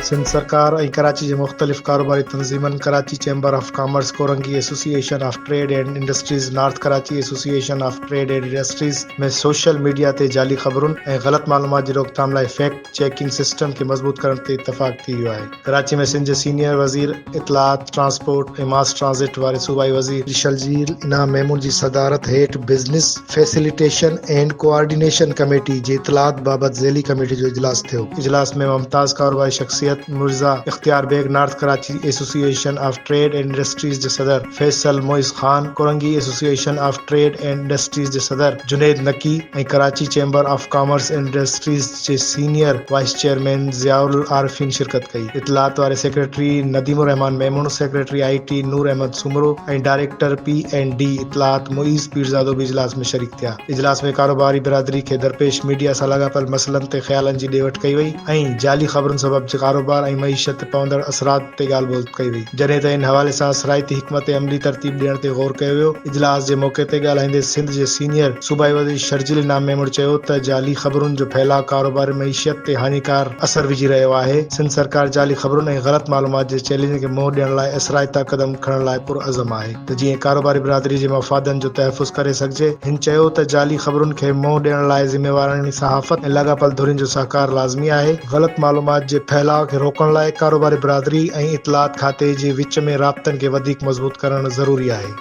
سنڌ سرڪار ۽ ڪراچي جي مختلف ڪاروباري تنظيمن Karachi chamber of commerce, Korangi association of trade and industries, north Karachi association of trade and industries ۾ social media تي جعلي خبرن ۽ غلط معلومات جي روڪٿام لاء فيڪٽ چيڪنگ سسٽم کي مضبوط ڪرڻ تي اتفاق ٿي ويو آهي. ڪراچي ۾ سنڌ جي سينيئر وزير اطلاعات، ٽرانسپورٽ ۽ ماس ٽرانزٽ واري صوبائي وزير شرجيل انعام ميمون جي صدارت هيٺ business facilitation and coordination committee جي اطلاعات بابت ذيلي ڪميٽي جو اجلاس ٿيو. اجلاس ۾ ممتاز ڪاروباري شخصيت مرزا اختيار Beg, north Karachi association of trade and industries جي صدر، Faisal Moiz Khan, Korangi association of trade and industries جي صدر Junaid Naqi ۽ Karachi chamber of commerce and industries جي senior vice chairman Zia ul Arifeen شرڪت ڪئي. اطلاعات واري secretary Nadeem ur Rehman Memon, secretary I T Noor Ahmed Soomro ۽ director P and D اطلاعات معيز پيرزادو به اجلاس ۾ شريڪ ٿيا. اجلاس ۾ ڪاروباري برادري کي درپيش ميڊيا سان لاڳاپيل مسئلن تي خيالن جي ڏي وٺ ڪئي وئي ۽ جعلي خبرن سبب ڪاروبار ۽ معيشت تي پوندڙ اثرات تي ڳالهه ٻولهه ڪئي وئي، جڏهن ته ان حوالي سان سرائتي حڪمت عملي ترتيب ڏيڻ تي غور ڪيو ويو، اجلاس جي موقعي تي ڳالهائيندي سنڌ جي سينيئر صوبائي وزير شرجيل انعام ميمڻ چيو ته جعلي خبرن جو ڦهلاء ڪاروباري معيشت تي هاڃيڪار اثر وجهي رهيو آهي، سنڌ سرڪار جعلي خبرن ۽ غلط معلومات جي چئلينج کي منهن ڏيڻ لاء اثرائتا قدم کڻڻ لاء پرعزم آهي. ته جيئن ڪاروباري برادري جي مفادن جو تحفظ ڪري سگهجي. هن چيو ته جعلي خبرن کي منهن ڏيڻ لاء ذميواراڻي صحافت ۽ لاڳاپيل ڌرين جو سهڪار لازمي آهي، غلط معلومات جي ڦهلاء کي روڪڻ لاء ڪاروباري برادري ۽ اطلاعات کاتي جي وچ ۾ رابطن کي وڌيڪ مضبوط ڪرڻ ضروري آهي.